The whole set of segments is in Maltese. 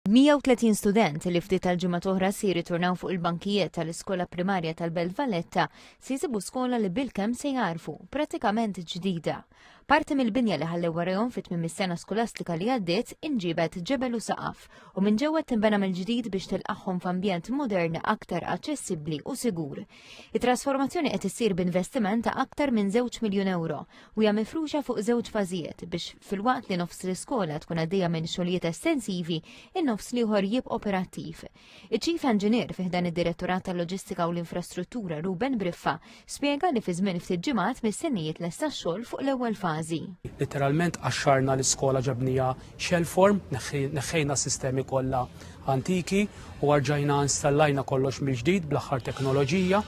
130 student li ftit tal-ġimgħat oħra se jirritornaw fuq il-bankijiet tal-iskola primarja tal-Belt Valletta se jsibu skola li bilkemm se jgħarfu pratikament ġdida. Parti mill-binja li ħallew warajhom fit tmiem is-sena skolastika li għaddiet inġibet ġebel u saqaf u minn ġewwa tinbena mill-ġdid biex tilqaħħom f'ambjent modern aktar aċċessibbli u sigur. It-trasformazzjoni qed issir b'investiment ta' aktar minn żewġ miljun euro u hija mifruxa fuq żewġ fażijiet biex filwaqt li nofs l-iskola tkun għaddejja minn xogħlijiet estensivi, in-nofs l-ieħor jibqa' operattiv. Iċ-Chief Engineer fi ħdan id-Direttorat tal-Loġistika u l-Infrastruttura Ruben Briffa spjega li fi żmien ftit ġimgħat mistennijiet lesta xogħol fuq l-ewwel fażi. Literalment qaxxarna l-iskola ġabnija shell form, neħħejna s-sistemi kollha antiki u arġajna installajna kollox mill-ġdid bl-aħħar teknoloġija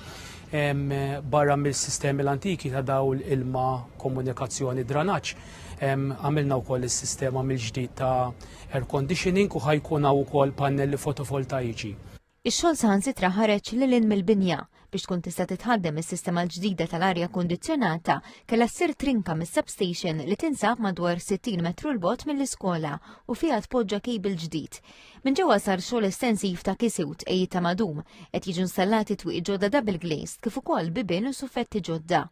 barra mill-sistemi l-antiki ta' dawl ilma komunikazzjoni dranaċ. Għamilna wkoll is-sistema mill-ġdid ta' air conditioning u ħajkun hawn ukoll pannelli fotovoltaiċi. Ix-xogħol saħansitra ħareġ lil hinn mill-binja biex tkun tista' titħaddem is-sistema l-ġdida tal-arja kundizzjonata kellha ssir trinka mis-substation li tinsab madwar 60 metru l bogħod mill-iskola u fiha tpoġġa kejbil ġdid. Minn ġewwa sar xogħol estensiv ta' kisi u tqejjid ta' madum qed jiġu installati twieqi ġodda double glazed kif ukoll bibien u suffetti ġodda.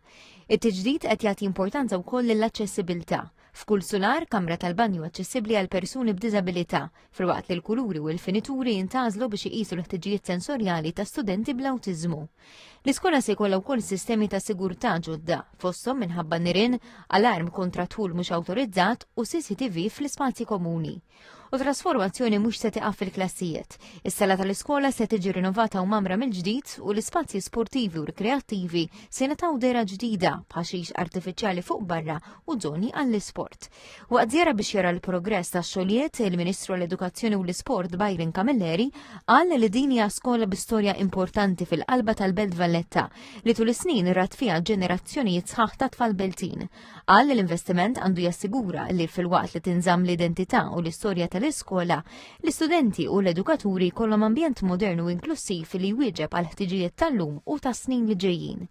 It-tiġdid qed jagħti importanza wkoll lill-aċċessibilità F'kull sunar, kamra tal-banju aċċessibbli għal persuni b'diżabilità, filwaqt li l-kuluri u l-finituri jintgħażlu biex iqisu l-ħtiġijiet sensorjali ta' studenti bl-awtiżmu. L-iskola se jkollha wkoll sistemi ta' sigurtà ġodda, fosthom minħabba nirien, alarm kontra tħul mhux awtorizzat u CCTV fl-ispazji komuni. u trasformazzjoni mhux se tiqaf fil-klassijiet. Is-sala tal-iskola se tiġi rinnovata u mamra mill-ġdid u l-ispazji sportivi u rikreattivi se nataw dera ġdida b'ħaxix artifiċjali fuq barra u żoni għall-isport. Waqt żjara biex jara l-progress tax-xogħlijiet, il-Ministru l-Edukazzjoni u l-Isport Byron Camilleri qal li din hija skola bi storja importanti fil-qalba tal-Belt Valletta li tul is-snin rat fiha ġenerazzjonijiet sħaħ ta' tfal Beltin. Qal li l-investiment għandu jassigura li fil-waqt li tinżamm l-identità u l-istorja tal-iskola, l-istudenti u l-edukaturi jkollhom ambjent modernu u inklussiv li jwieġeb għal ħtiġijiet tal-lum u tas-snin li ġejjin.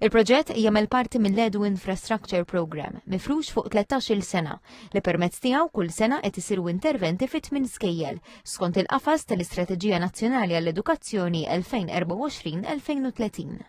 Il-proġett jagħmel parti mill-Edu Infrastructure Program, mifrux fuq 13-il sena, li permezz tiegħu kull sena qed isiru interventi fit tmien skejjel, skont il-qafas tal-Istrateġija Nazzjonali għall-Edukazzjoni 2024-2030.